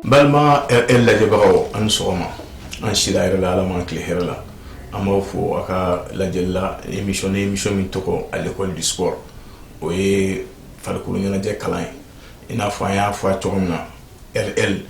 balima RL lajɛbagaw aw ni sɔgɔma an sira hɛrɛ la ala ma an tilen hɛrɛ la an b'aw fo a ka lajɛli la émission ni émission min tɔgɔ à l'école du sport o ye farikolo ɲɛnajɛ kalan ye i n'a fɔ an y'a fɔ a cogo min na RL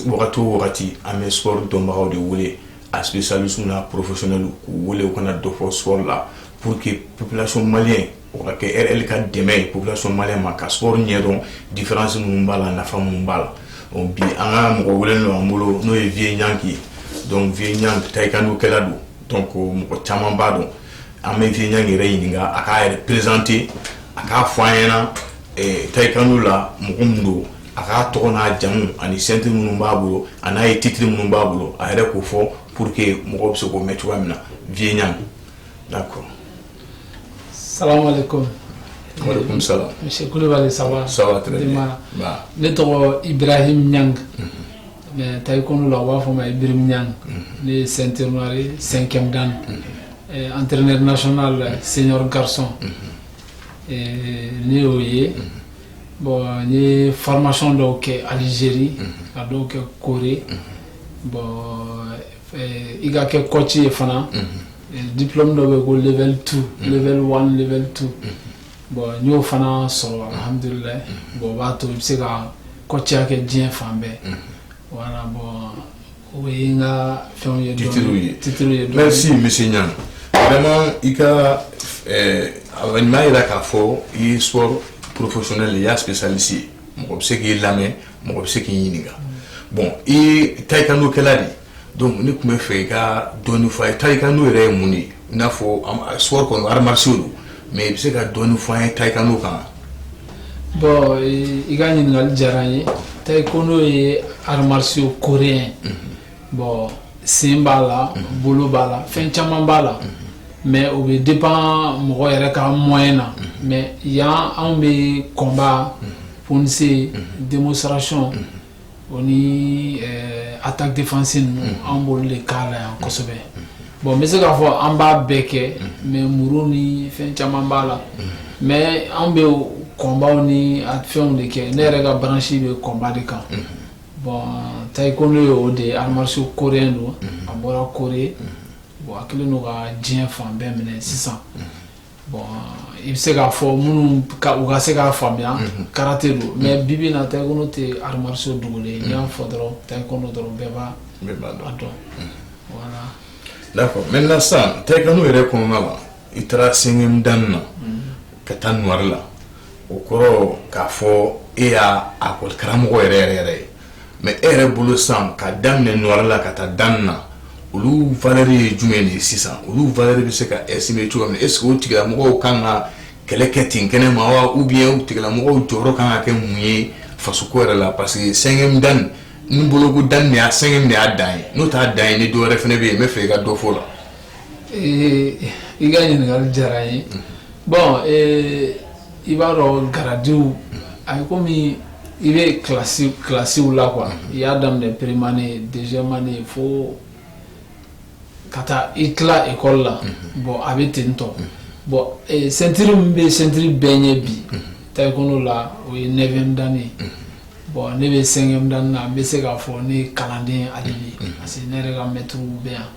wagati o wagati an bɛ sport dɔnbagaw de wele a spécialistes n'a professionnels k'u wele u ka na dɔ fɔ sport la pour que population malienne o ka kɛ RL ka dɛmɛ ye population malienne ma ka sport ɲɛdɔn différence minnu b'a la nafa minnu b'a la donc bi an ka mɔgɔ welelen don an bolo n'o ye Vieux Niang ye donc Vieux Niang taekwondo kɛla don donc mɔgɔ caman b'a dɔn an bɛ Vieux Niang yɛrɛ ɲininka a k'a yɛrɛ présenter a k'a fɔ an ɲɛna taekwondo la mɔgɔ min don a k'a tɔgɔ n'a jamu ani sɛti minnu b'a bolo a n'a ye titiri minnu b'a bolo a yɛrɛ k'o fɔ pour que mɔgɔ bɛ se k'o mɛn cogoya min na diɲɛ ɲa da kɔrɔ sa sala misi kulubali saba ne tɔgɔ i bɛrahi ɲa mɛ ta i kɔnɔ la u b'a fɔ ma i biri ɲa ne ye sɛterre senkɛmdan an terir ne naon la senyɔrɔ garisɔn ne y'o ye Bɔn n ye faramasɔn dɔw kɛ alizeri ka dɔw kɛ koɔri bɔn i ka kɛ kɔci ye fana dipme dɔw bɛ ko lɛli tu lɛli tu bɔn n y'o fana sɔrɔhamdula bɔn b'a to i bɛ se ka kɔciya kɛ diɲɛ fan bɛɛ wala bɔn o ye n ka fɛnw ye titiriw ye titiriw ye merci monsieur Niang vraiment i ka ɛɛ nin b'a jira k'a fɔ i ye sport professionnel i y'a spécialiste ye mɔgɔ bɛ se k'i lamɛn mɔgɔ bɛ se k'i ɲininka bon i ye taekwondo kɛla de ye donc ne tun b'a fɛ i ka dɔɔnin fɔ an ye taekwondo yɛrɛ ye mun de ye i n'a fɔ sport kɔni arts martiaux don Mɛ i bɛ se ka dɔn fɔ ye ta i ka kan bɔn i ka ɲininkakali diyara ye ta i ko n'o ye aramaso koɔri ye bɔn sen b'a la bolo b'a la fɛn caman b'a la mɛ u bɛ di pan mɔgɔ yɛrɛ ka mɔn na mɛ yan anw bɛ kɔnba pse denmusomosaracɔn o ni attaque défense ninnu an b'olu de kalan yan kosɛbɛ bon n bɛ se k'a fɔ an b'a bɛɛ kɛ mais muru ni fɛn caman b'a la mais an bɛ combats ni a fɛnw de kɛ ne yɛrɛ ka branche bɛ combat de kan bon taekwondo ye o de ye arts martiaux coréen don a bɔra Corée bon a kɛlen don ka diɲɛ fan bɛɛ minɛ sisan bɔn i bɛ se k'a fɔ minnu u ka se k'a faamuya karate don mais bibi na taekwondo tɛ art martial dogolen ye n'i y'a fɔ dɔrɔn taekwondo dɔrɔn bɛɛ b'a dɔn d'accord maintenant sisan taekwondo yɛrɛ kɔnɔna la i taara cinquième dan na ka taa noire la o kɔrɔ k'a fɔ e y'a école karamɔgɔ yɛrɛ yɛrɛ yɛrɛ ye mais e yɛrɛ bolo sisan k'a daminɛ noire la ka taa dan na olu valeur ye jumɛn de ye sisan olu valeur bɛ se ka estimer cogo min est-ce que o tigilamɔgɔw kan ka kɛlɛ kɛ ten kɛnɛ ma wa ou bien o tigilamɔgɔw jɔyɔrɔ kan ka kɛ mun ye fasoko yɛrɛ la parce que cinquième dan n bolo ko dan y'a cinquième de y'a dan ye n'o t'a dan ye ni dɔ wɛrɛ fana bɛ yen n b'a fɛ i ka dɔ fɔ o la i ka ɲininkali diyara n ye bɔn i b'a dɔn garadiw a ye kɔmi i bɛ kilasiw la quoi i y'a daminɛ première année deuxième année fo ka taa i tila école la bɔn a bɛ ten tɔ bɔn ceinture min bɛ ceinture bɛɛ ɲɛ bi taekwondo la o ye neuvième dan ye bɔn ne bɛ cinquième dan na n bɛ se k'a fɔ ne kalanden hali bi parce que ne yɛrɛ ka mɛtiriw bɛ yan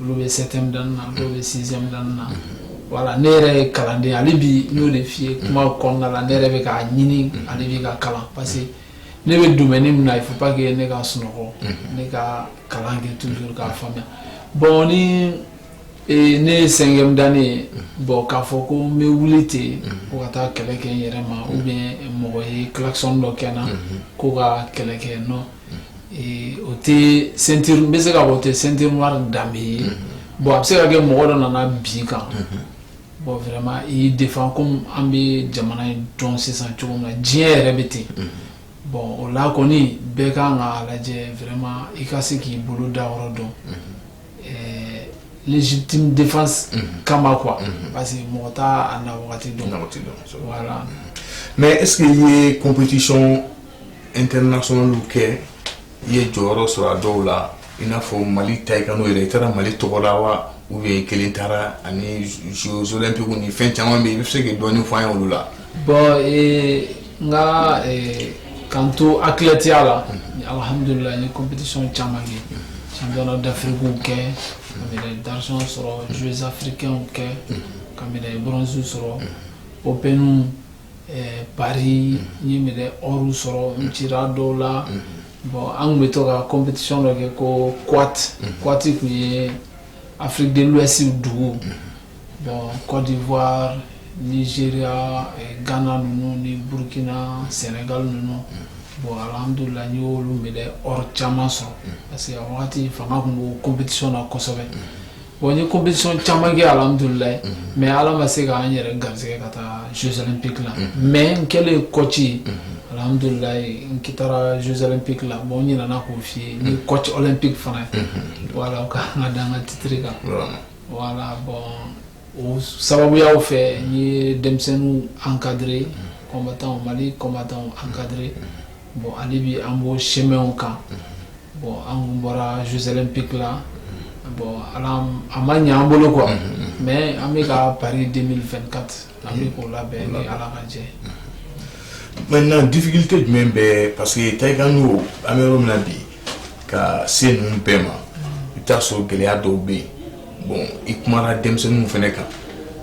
olu bɛ septième dan na dɔw bɛ sixième dan na voilà ne yɛrɛ ye kalanden hali bi n y'o de f'i ye kuma kɔnɔna la ne yɛrɛ bɛ k'a ɲini hali bi ka kalan parce que ne bɛ domaine min na il faut pas que ne ka sunɔgɔ ne ka kalan kɛ toujours k'a faamuya bɔn ni ne ye cinquième dan ye bɔn k'a fɔ ko n bɛ wuli ten ko ka taa kɛlɛ kɛ n yɛrɛ ma ou bien mɔgɔ ye klaxon dɔ kɛ n na ko ka kɛlɛ kɛ non o tɛ st bɛ se ka o tɛ st danbebe ye bon a bɛ se ka kɛ mɔgɔ dɔ nana bin kan bon wɛrɛma i defa ko an bɛ jamana in dɔn sisan cogo na diɲɛ yɛrɛ bɛ ten bɔn o la kɔni bɛɛ ka ka lajɛ wɛrɛma i ka se k'i bolo da yɔrɔ dɔn jiti defa kama qu parce que mɔgɔ t' na dɔn wala mɛ e ye koptisi n tɛ nasɔnw kɛ i ye jɔyɔrɔ sɔrɔ a dɔw la i n'a fɔ mali ta i ka n'o yɛrɛ i taara mali tɔgɔ la wa u ye kelen taara ani zzolenpiku ni fɛn caman min i bɛ se ka dɔni fɔ ye olu la bɔn n ka kan to a tilatiya la alihamdulila ni kopdisɔn caman kɛ san dafiriw kɛ ka dasɔn sɔrɔ zsafirikɛlaw kɛ ka bronzw sɔrɔ o bɛ pa ye minɛ yɔrɔw sɔrɔ n ci dɔw la bɔn an tun bɛ to ka koptiti dɔ kɛ koti tun ye afidluwasi dugu bɔn kɔdi ze gana ninnu ni burukina sɛnɛga ninnu bɔn aladula y' oluolu minɛ yɔrɔ caman sɔrɔ parce que wagati fanga tun koptiti na kosɛbɛ Bon n ye compétition caman kɛ alhamdulilahi mais Ala ma se k'an yɛrɛ garisigɛ ka taa jeux olympiques la mais n kɛlen coach ye alhamdulilahi n taara jeux olympiques la bon n ɲinɛna k'o f'i ye n ye coach olympique fana ye voilà o ka kan ka da n ka titre kan voilà bon o sababuyaw fɛ n ye denmisɛnninw encadrer combattants Mali combattants encadrer bon hali bi an b'o chemin kan Bon an kun bɔra jeux olympiques la, bon Ala a ma ɲɛ an bolo quoi, mais an bɛ ka Paris 2024 an bɛ k'o labɛn ni Ala ka jɛ ye. Maintenant difficulté jumɛn bɛ parce que taekwondo an bɛ yɔrɔ min na bi ka se ninnu bɛɛ ma, i bɛ t'a sɔrɔ gɛlɛya dɔw bɛ yen bon i kumana denmisɛnninw fana kan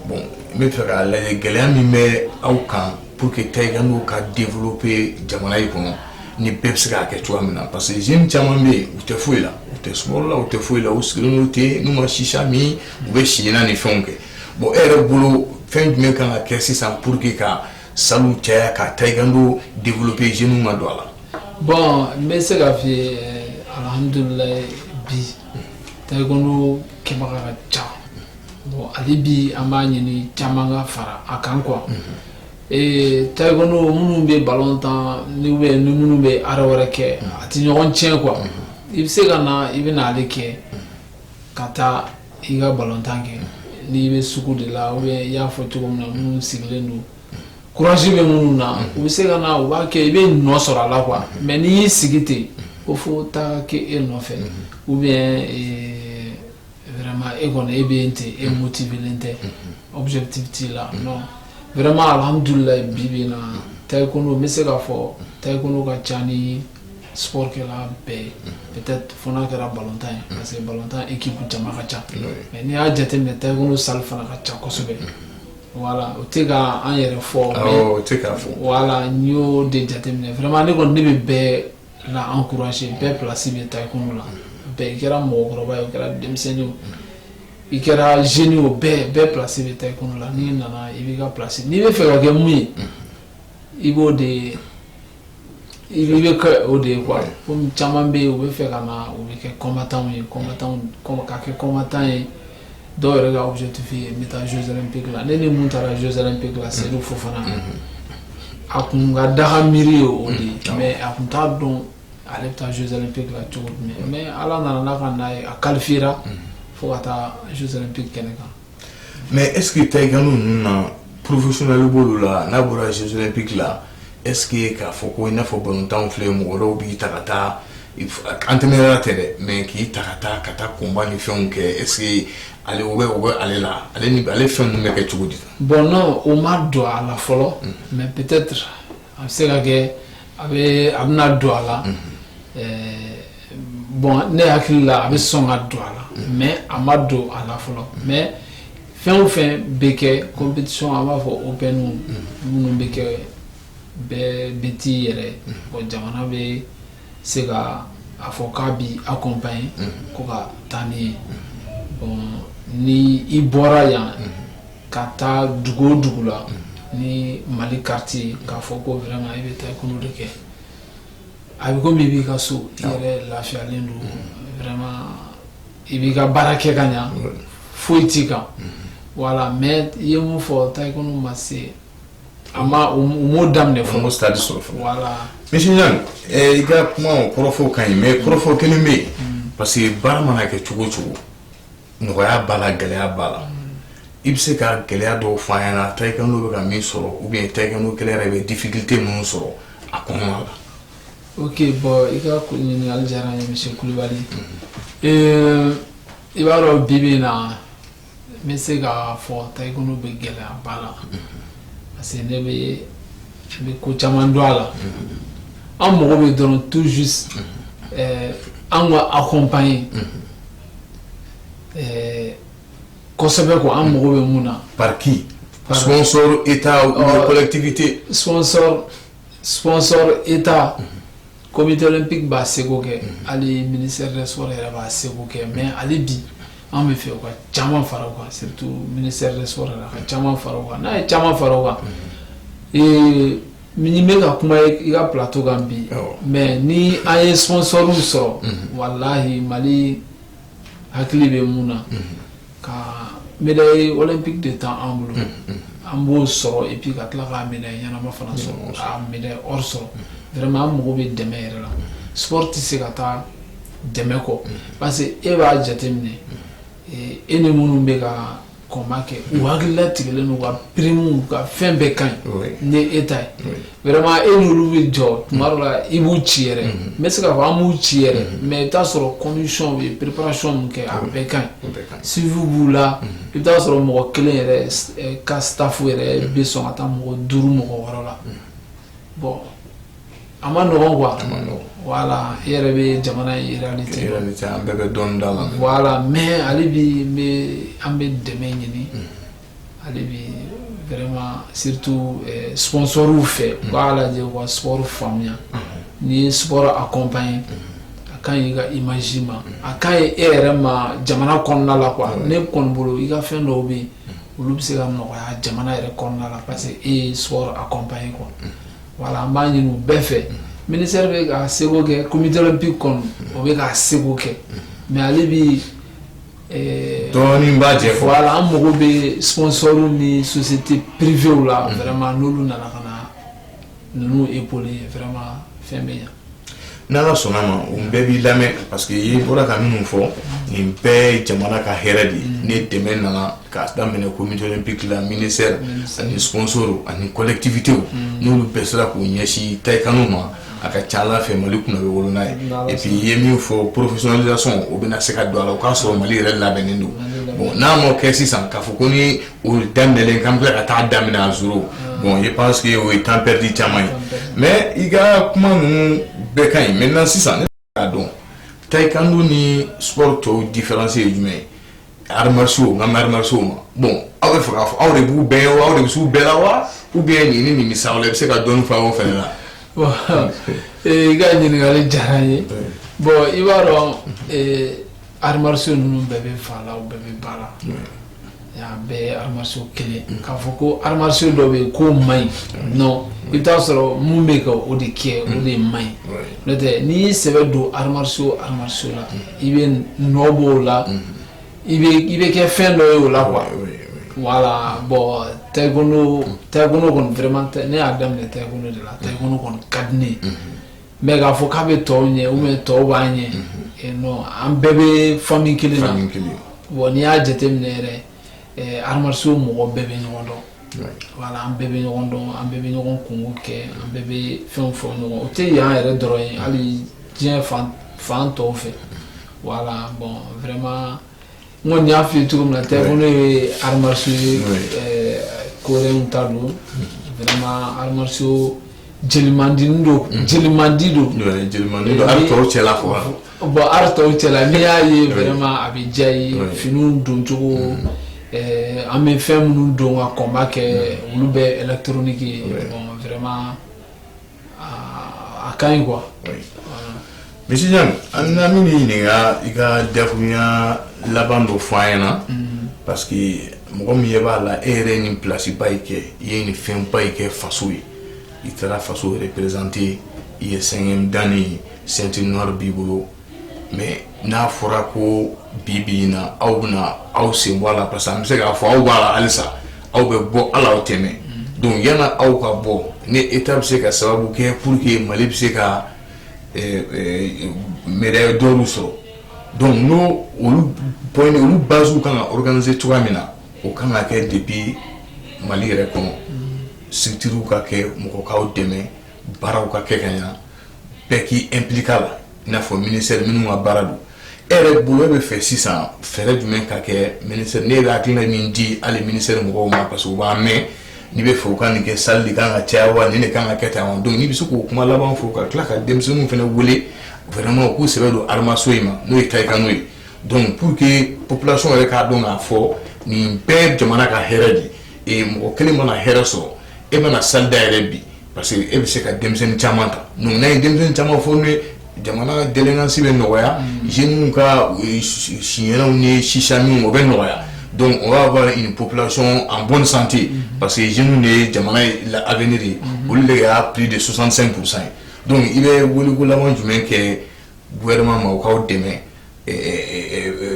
bon n bɛ fɛ k'a lajɛ gɛlɛya min bɛ aw kan pour que taekwondo ka développer jamana in kɔnɔ ni bɛɛ bɛ se k'a kɛ cogoya min na parce que jeunes caman bɛ yen u tɛ foyi la u tɛ sport la u tɛ foyi la u sigilen don ten n'u ma chicha min u bɛ siɲɛna ni fɛnw kɛ bon e yɛrɛ bolo fɛn jumɛn kan ka kɛ sisan pour que ka salles caya ka taekwondo développer jeunes ka don a la. bon n bɛ se k'a f'i ye alhamdulilayi bi taekwondo kɛbaga ka ca bon hali bi an b'a ɲini caman ka fara a kan quoi ee taekwondo minnu bɛ balon tan ni ou bien ni minnu bɛ art wɛrɛ kɛ a tɛ ɲɔgɔn tiɲɛ quoi i bɛ se ka na i bɛ na ale kɛ ka taa i ka balontan kɛ n'i bɛ sugu de la ou bien i y'a fɔ cogo min na minnu sigilen don courage bɛ minnu na u bɛ se ka na u b'a kɛ i bɛ nɔ sɔrɔ a la quoi mais n'i y'i sigi ten ko fo taa kɛ e nɔfɛ ou bien vraiment e kɔni e bɛ yen ten e motivelen tɛ objectif t'i la vraiment alhamdulilahi bi bi na taekwondo n bɛ se k'a fɔ taekwondo ka ca ni sport kɛla bɛɛ ye peut-être fo n'a kɛra balontan ye parce que balontan équipe jama ka ca mais n'i y'a jateminɛ taekwondo salle fana ka ca kosɛbɛ voilà o tɛ ka an yɛrɛ fɔ o tɛ k'a fɔ voilà n y'o de jateminɛ vraiment ne kɔni ne bɛ bɛɛ la encourager bɛɛ place bɛ taekwondo la bɛɛ i kɛra mɔgɔkɔrɔba ye o kɛra denmisɛnnin o i kɛra jeune ye o bɛɛ bɛɛ place bɛ taekwondo la n'i nana i b'i ka place n'i bɛ fɛ ka kɛ mun ye i b'o de i bɛ kɛ o de ye quoi komi caman bɛ yen u bɛ fɛ ka na u bɛ kɛ combattants ye ka kɛ combattant ye dɔw yɛrɛ ka objectif ye n bɛ taa jeux olympiques la ne ni mun taara jeux olympiques la Seydou Fofana a kun ka daga miiri ye o de ye mais a kun t'a dɔn ale bɛ taa jeux olympiques la cogo jumɛn mais Ala nana n'a ka na ye a qualifiera fo ka taa jeux olympiques kɛnɛ kan Mɛ e ta i ninnu na porofeslen bolo la n'a bɔra sisi pki la eseke k'a fɔ ko n'a fɔ batan filɛ mɔgɔ b'i ta ka taa an tɛmɛyala tɛ dɛ mɛ k'i ta ka taa ka taa kunba ni fɛnw kɛ ese ale bɛ u bɛ ale la ale ale fɛn bɛ kɛ cogo di bɔn n' o ma don a la fɔlɔ mɛ pte a bɛ se ka kɛ a bɛ a bɛna don a la Bon ne hakili la a bɛ sɔn ka don a la mais a ma don a la fɔlɔ mais fɛn o fɛn bɛ kɛ compétition an b'a fɔ openw minnu bɛ kɛ bɛɛ bɛ t'i yɛrɛ bon jamana bɛ se ka a fɔ k'a b'i accompagner quoi ka taa n'i ye bon ni i bɔra yan ka taa dugu o dugu la ni Mali carte ye k'a fɔ ko vraiment i bɛ taekwondo de kɛ a bɛ komi i b'i ka so i yɛrɛ lafiyalen don vraiment i b'i ka baara kɛ ka ɲɛ foyi t'i kan voilà mais i ye mun fɔ taekwondo ma se a ma daminɛ fɔlɔ stade sɔrɔ monsieur Niang i ka kuma kɔrɔfɔw ka ɲi mais kɔrɔfɔ kelen bɛ yen parce que baara mana kɛ cogo o cogo nɔgɔya b'a la gɛlɛya b'a la i bɛ se ka gɛlɛya dɔw fɔ an ɲɛna taekwondo bɛ ka min sɔrɔ ou bien taekwondo kɛla yɛrɛ bɛ difficulté minnu sɔrɔ a kɔnɔ la ok bon i ka ɲininkali diyara n ye monsieur Kulibali euh, i b'a dɔn bi bi in na n bɛ se k'a fɔ taekwondo bɛ gɛlɛyaba la parce que ne bɛ n bɛ ko caman dɔn a la an mago bɛ dɔrɔn tout juste euh, an ka accompagner euh, kosɛbɛ ko an mago bɛ mun na pariki sɔnsɔn e taaɛlɛtigibite sɔnsɔn sɔnsɔn e ta kɔmitɛlen pe b'a segu kɛ hali mini sɔ yɛrɛ b'a segu kɛ mɛ ale bi an bɛ fɛ ka caman fara kan setu mini sɔ la ka caman fara kan n'a ye caman fara kan ee min bɛ ka kuma i ka pto kan bi mɛ ni an ye sɔnsɔnw sɔrɔ walahi mali hakili bɛ mun na ka médaille olympique de ta an bolo an b'o sɔrɔ et puis ka tila ka médaille ɲɛnama fana sɔrɔ ka médaille or sɔrɔ vraiment an mago bɛ dɛmɛ yɛrɛ la sport tɛ se ka taa dɛmɛ kɔ parce que e b'a jate minɛ e ni minnu bɛ ka combat kɛ u hakilila tigɛlen don ka prime ka fɛn bɛɛ ka ɲi ni e ta ye vraiment e n'olu bɛ jɔ tuma dɔ la i b'u ci yɛrɛ n bɛ se k'a fɔ an b'u ci yɛrɛ mais i bɛ t'a sɔrɔ condition u ye préparation min kɛ a bɛɛ ka ɲi suivi b'u la i bɛ t'a sɔrɔ mɔgɔ kelen yɛrɛ ka staff yɛrɛ bɛ sɔn ka taa mɔgɔ duuru mɔgɔ wɔɔrɔ la bon A ma nɔgɔ quoi a ma nɔgɔ voilà e yɛrɛ bɛ jamana in réalité dɔn réalité an bɛɛ bɛ dɔɔnin dɔn a la voilà mais hali bi n bɛ an bɛ dɛmɛ ɲini hali bi vraiment surtout euh, sponsorw fɛ u k'a lajɛ u ka sport faamuya n'i ye sport accompagner a ka ɲi i ka image ma a ka ɲi e yɛrɛ ma jamana kɔnɔna la quoi ne kɔni bolo i ka fɛn dɔw bɛ yen olu bɛ se ka nɔgɔya jamana yɛrɛ kɔnɔna la parce que e ye sport accompagner quoi voilà an b'a ɲini u bɛɛ fɛ ministère bɛ ka seko kɛ comité olympique kɔnɔ o bɛ ka seko kɛ mais ale bi eh, dɔɔnin b'a jɛ fɔ voilà an mago bɛ sponsorw ni société privéew la mm. vraiment n'olu nana ka na ninnu épauler vraiment fɛn bɛ ɲa n' ala sɔnna ma u bɛɛ b'i lamɛn parce que e bɔra ka minnu fɔ nin bɛɛ jamana ka hɛrɛ de ni dɛmɛ nana ka daminɛ comité olympique la ministère ani sponsor ani collectivitéw n'olu bɛɛ sera k'u ɲɛsin taekwondo ma a ka ca ala fɛ mali kunna bɛ wolo n'a ye et puis i ye min fɔ professionnalisation o bɛna na se ka don a la o k'a sɔrɔ mali yɛrɛ labɛnnen don n'a ma kɛ sisan k'a fɔ ko O daminɛlen k'an bɛ ka taa daminɛ à zéro bon je pense que o ye temps perdu caman ye mais i ka kuma ninnu bɛɛ ka ɲi maintenant sisan ne k'a dɔn taekwondo ni sport tɔw différence ye jumɛn ye arts martiaux nka arts martiaux ma bon aw bɛ fɛ k'a fɔ aw de b'u bɛɛ ɲɛ aw de bɛ s'u bɛɛ la wa ou bien nin ni sa i bɛ se ka dɔɔnin fɔ o fana la i ka ɲininkali diyara n ye bon i b'a dɔn arts martiaux ninnu bɛɛ bɛ fa la bɛɛ bɛ ba la Yan bɛɛ aramaso kelen k'a fɔ ko aramaso dɔ bɛ yen ko ma ɲi nɔn i t'a sɔrɔ minnu bɛ ka o de kɛ o de ma ɲi n'o tɛ n'i y'i sɛbɛ don aramaso aramaso la i bɛ nɔ bɔ o la i bɛ kɛ fɛn dɔ ye o la qu wala bɔn tari kɔni fɛrɛma tɛ ne y'a daminɛ tari de la tari kɔni ka di Mais k'a fɔ k'a bɛ tɔw ɲɛ ou bien tɔw b'a ɲɛ non an bɛɛ bɛ famille kelen na bon n'i y'a jateminɛ yɛrɛ arts martiaux mɔgɔ bɛɛ bɛ ɲɔgɔn dɔn voilà an bɛɛ bɛ ɲɔgɔn dɔn an bɛɛ bɛ ɲɔgɔn kunko kɛ an bɛɛ bɛ fɛn fɔ ɲɔgɔn o tɛ yan yɛrɛ dɔrɔn ye hali diɲɛ fan tɔw fɛ voilà bon vraiment n kɔni y'a f'i ye cogo min na taekwondo ye arts martiaux ye ɛɛ coréenw ta don vraiment arts martiaux jelimandini don jelimandi don Ouais, jelimandi don, arts tɔw cɛla quoi. bon arts tɔw cɛla n'i y'a ye vraiment a bɛ diya i ye Ouais. finiw don cogo ɛɛ an bɛ fɛn minnu don ka combat kɛ olu bɛ électronique ye bon vraiment A ka ɲi quoi oui Monsieur Jan an na min ɲininka i ka dakuruɲa laban dɔ fɔ an ɲɛna parce que mɔgɔ min ɲɛ b'a la e yɛrɛ ye nin place ba in kɛ i ye nin fɛn ba in kɛ faso ye i taara faso représenter i ye cinquième dan ye ceinture noire b'i bolo mais n'a fɔra ko bi bi in na aw bɛna aw sen bɔ a la parce que an bɛ se k'a fɔ aw b'a la halisa aw bɛ bɔ hali aw tɛ mɛn donc yanni aw ka bɔ ni Etat bɛ se ka sababu kɛ pour que Mali bɛ se ka médaille d'or sɔrɔ donc n'o olu point olu bases kan ka organiser cogoya min na o kan ka kɛ depuis Mali yɛrɛ kɔnɔ structures ka kɛ mɔgɔ k'aw dɛmɛ. baaraw ka kɛ ka ɲɛ bɛɛ k'i impliquer a la i n'a fɔ ministère minnu ka baara don e yɛrɛ bolo e bɛ fɛ sisan fɛɛrɛ jumɛn ka kɛ ministère ne bɛ hakilina min di hali ministère mɔgɔw ma parce que u b'an mɛn n'i bɛ fɛ u ka nin kɛ salle de kan ka caya wa nin de kan ka kɛ tan wa donc n'i bɛ se k'o kuma laban fɔ ka tila ka denmisɛnninw fana wele vraiment u k'u sɛbɛ don arts martiaux in ma n'o ye taekwondo ye donc pour que population yɛrɛ k'a dɔn k'a fɔ nin bɛɛ ye jamana ka hɛrɛ de ye mɔgɔ kelen mana hɛrɛɛ sɔrɔ e mana sa da yɛrɛ bi parce que e bɛ se ka denmisɛnnin caman ta ye denmisɛnnin caman fɔ ye jamana gɛlɛnkansi bɛ nɔgɔya zw ka siw ni sisa min o bɛ nɔgɔya dɔnku o y'a fɔ nin pplasion an bɔn sante parce que z de ye jamana la a bɛi de olu de y'a p de susansan kurusan ye dɔnku i bɛ wkolalan jumɛn kɛ wɛrɛma mɔgɔwkaw dɛmɛ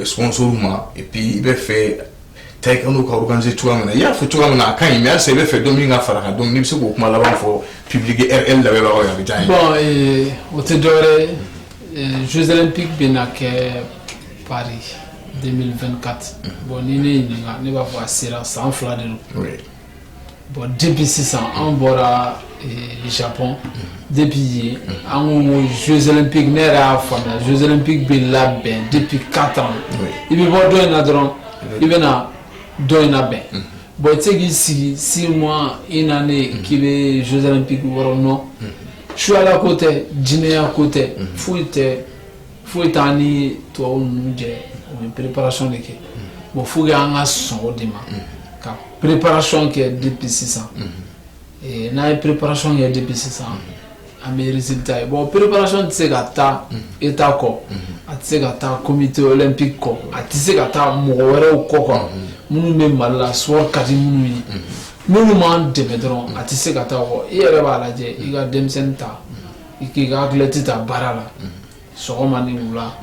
sɔso ma i bɛ fɛ ta i ka n'u ka ganse cogoya min na i y'a fɔ cogoya min na a ka ɲi se i bɛ fɛ don min ka fara ka don bɛ se k'o kuma laban fɔ ppibiliki e labɛn a bɛ taa o tɛ dɔwɛrɛ zotlenp bɛ na kɛ pa den2 kati bɔn ni ne ɲininka ne b'a fɔ a sera san fila de don bon depuis sisan an bɔra eh, Japon depuis yen an ko ko jeux olympique ne yɛrɛ y'a faamuya jeux olympique bɛ labɛn depuis 4 ans i bɛ bɔ dɔ in na dɔrɔn i bɛ na dɔ in labɛn bon i tɛ se k'i sigi six mois une année k'i bɛ jeux olympique wɔrɔ non suyala ko tɛ jinɛya ko tɛ foyi tɛ foyi t'an ni tubabu ninnu cɛ u bɛ préparation de kɛ bon faut que an ka sɔn o de ma ka préparation kɛ depuis sisan n'an ye préparation kɛ depuis sisan an bɛ résultat ye bon préparation tɛ se ka taa état kɔ a tɛ se ka taa comité olympique kɔ a tɛ se ka taa mɔgɔ wɛrɛw kɔ quoi minnu bɛ Mali la sport ka di minnu ye n'olu m'an dɛmɛ dɔrɔn a tɛ se ka taa kɔ i yɛrɛ b'a lajɛ i ka denmisɛnnin ta. i k'i ka athlète ta baara la sɔgɔma ni wula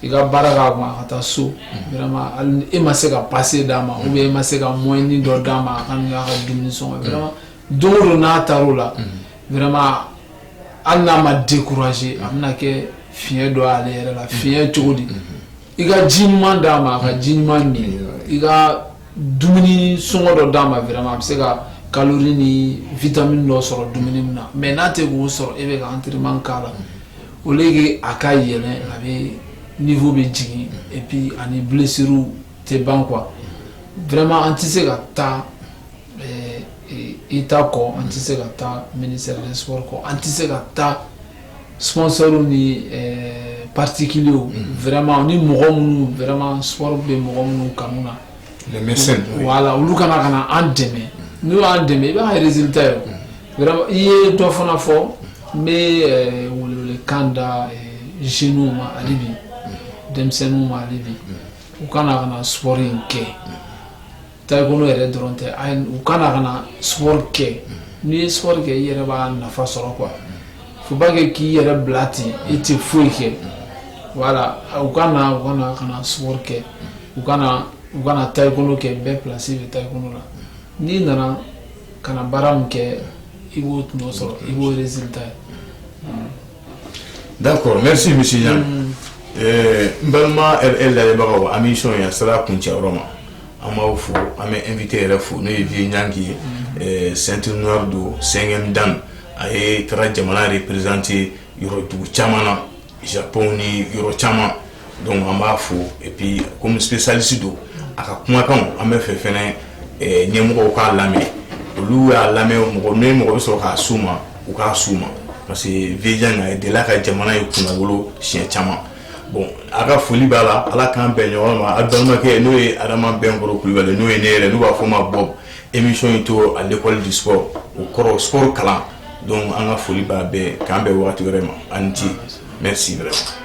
i ka baara k'a kun a ka taa so vraiment hali ni e ma se ka pase d'a ma ou bien e ma se ka moyen dɔ d'a ma a ka n'a ka dumuni sɔngɔ vraiment don o don n'a taar'o la vraiment hali n'a ma décourager a bɛna kɛ fiɲɛ dɔ y'ale yɛrɛ la fiɲɛ cogo di i ka ji ɲuman d'a ma a ka ji ɲuman min i ka dumuni sɔngɔ dɔ d'a ma vraiment a bɛ se ka calorie ni vitamine dɔ sɔrɔ dumuni min na mais n'a tɛ k'o sɔrɔ e bɛ ka entraînement k'a la au lieu que a ka yɛlɛn a bɛ niveau bɛ jigin et puis ani blessures tɛ ban quoi vraiment an tɛ se ka taa état kɔ an tɛ se ka taa ministère des sports kɔ an tɛ se ka taa sumaworooro ni pati kelen vma ni mɔgɔ minnu vma sumaworo bɛ mɔgɔ minnu ka na wala olu kana ka na an dɛmɛ n'u y'an dɛmɛ i b'a yɛrɛ zta ye i ye dɔ fana fɔ n bɛ wele kan da zw ma ale bi denmisɛnninw ma ale bi u kana ka na sumaworo in kɛ taekwondo yɛrɛ dɔrɔn tɛ u ka na ka na sport kɛ n'i ye sport kɛ i yɛrɛ b'a nafa sɔrɔ quoi faut pas que k'i yɛrɛ bila ten i tɛ foyi kɛ voilà u ka na ka na sport kɛ u ka na u ka na taekwondo kɛ bɛɛ place bɛ taekwondo la n'i nana ka na baara min kɛ i b'o tɔnɔ sɔrɔ i b'o résultat ye d'accord merci monsieur yan n balima RL lamɛnbagaw an bɛ émission in a sera kuncɛyɔrɔ ma an b'aw fo an bɛ an invité yɛrɛ fo n'o ye Vieux Nyanki ye ceinture noire don cinquième dan a ye taara jamana représenter yɔrɔ dugu caman na Japon ni yɔrɔ caman donc an b'a fo et puis comme spécialiste don a ka kumakan an b'a fɛ fɛn ɲɛmɔgɔw k'a lamɛn olu y'a lamɛn mɔgɔ n mɔgɔ bɛ sɔrɔ k'a s'u ma u k'a s'u ma parce que Vieux a delila ka jamana ye kunnawolo siɲɛ caman Bon a ka foli b'a la ala k'an bɛn ɲɔgɔn ma a balimakɛ n'o ye adama bɛnkɔrɔ kulubali n'o ye ne yɛrɛ n'u b'a fɔ ma Bob émission in tɔgɔ à l'école du sport o kɔrɔ sport kalan donc an ka foli b'a bɛɛ k'an bɛn waati wɛrɛ ma a ni ce merci vraiment